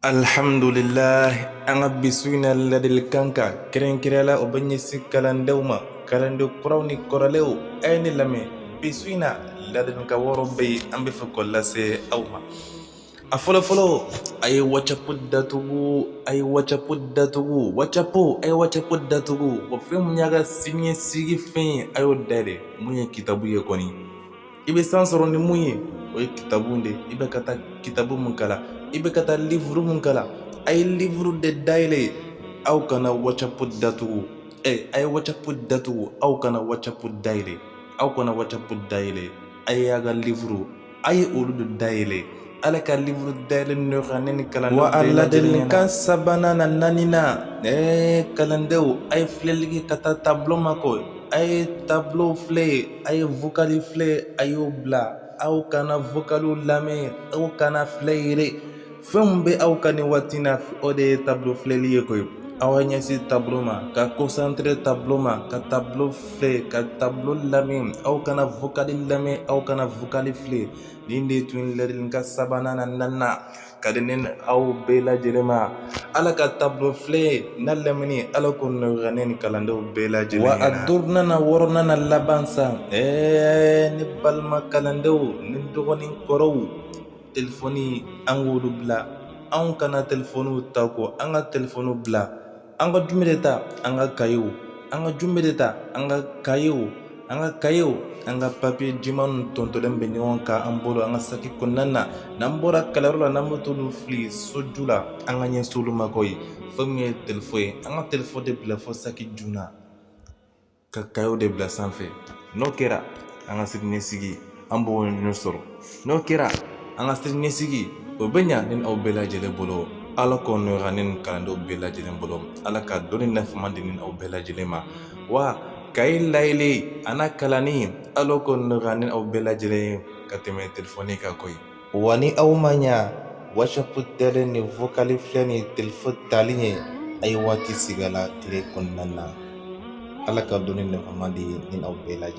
alhamdulillah an ka bi su in na ladilikan kan kɛrɛnkɛrɛnyala o bɛ ɲɛsin kalandenw ma kalanden kuraw ni kɔrɔlenw a ye ne lamɛn bi su in na ladilikan wɔɔrɔ bɛ yen an bɛ fɛ k'o lase aw ma a fɔlɔfɔlɔ a ye wacapo datugu a ye wacapo datugu wacapo a ye wacapo datugu wa fɛn min y'a ka siniɲɛsigi fɛn ye a y'o dayɛlɛ mun ye kitabu ye kɔni i bɛ san sɔrɔ ni mun ye o ye kitabu de ye i bɛ ka taa kitabu mun kalan i bɛ ka taa livuru mun kalan a ye livuru de dayɛlɛ aw kana wacapu datugu ɛ a ye wacapu datugu aw kana wacapu dayɛlɛ aw kana wacapu dayɛlɛ a ye a ka livuru a ye olu de dayɛlɛ Ala ka livuru dayɛlɛ nɔgɔya ne ni kalandenw bɛɛ lajɛlen ladilikan sabanan n'a naaninan ɛɛ kalandenw a ye filɛli kɛ ka taa tabulo ma koyi a ye tabulo filɛ a ye vokali filɛ a y'o bila aw kana vokaliw lamɛn aw kan'a filɛ yɛrɛ fɛn min bɛ aw kan nin waati in na o de ye tabulo filɛli ye koyi aw ka ɲɛsin tabulo ma ka kɔnsantere tabulo ma ka tabulo filɛ ka tabulo lamɛn aw kana vokali lamɛn aw kana vokali filɛ nin de tun ye ladilikan sabanan n'a naaninan ka di ne ni aw bɛɛ lajɛlen ma ala ka tabulo filɛ n'a lamɛnni ala k'o nɔgɔya ne ni kalandenw bɛɛ lajɛlen wa a duurunan n'a wɔɔrɔnan n'a laban sa ɛɛ ne balima kalandenw ne dɔgɔw ni n kɔrɔw telefɔni an k'olu bila anw kana telefɔniw ta koyi an ka telefɔniw bila an ka jumɛn de ta an ka kayew an ka jumɛn de ta an ka kayew an ka kayew an ka papiye jɛman tontonlen bɛ ɲɔgɔn kan an bolo an ka saki kɔnɔna na n'an bɔra kalanyɔrɔ la n'an bɛ t'olu fili soju la an ka ɲɛsin olu ma koyi fɛn min ye telefɔni ye an ka telefɔni de bila fɔ saki ju la ka kayew de bila sanfɛ n'o kɛra an ka siniɲɛsigi an b'o ɲɛ sɔrɔ n'o kɛra an ka siniɲɛsigi o bɛ ɲa ne ni aw bɛɛ lajɛlen bolo ala k'o nɔgɔya ne ni kalandenw bɛɛ lajɛlen bolo ala ka dɔnni nafama di ne ni aw bɛɛ lajɛlen ma wa kaye dayɛlɛ a n'a kalanni ala k'o nɔgɔya ne ni aw bɛɛ lajɛlen ye ka tɛmɛ telefɔni kan koyi Wa ni aw ma ɲɛ wacapu dayɛlɛ ni vokali filɛ ni telefɔni tali ye a ye waati sigi a la tile kɔnɔna na ala ka dɔnni nafama di ne ni aw bɛɛ lajɛ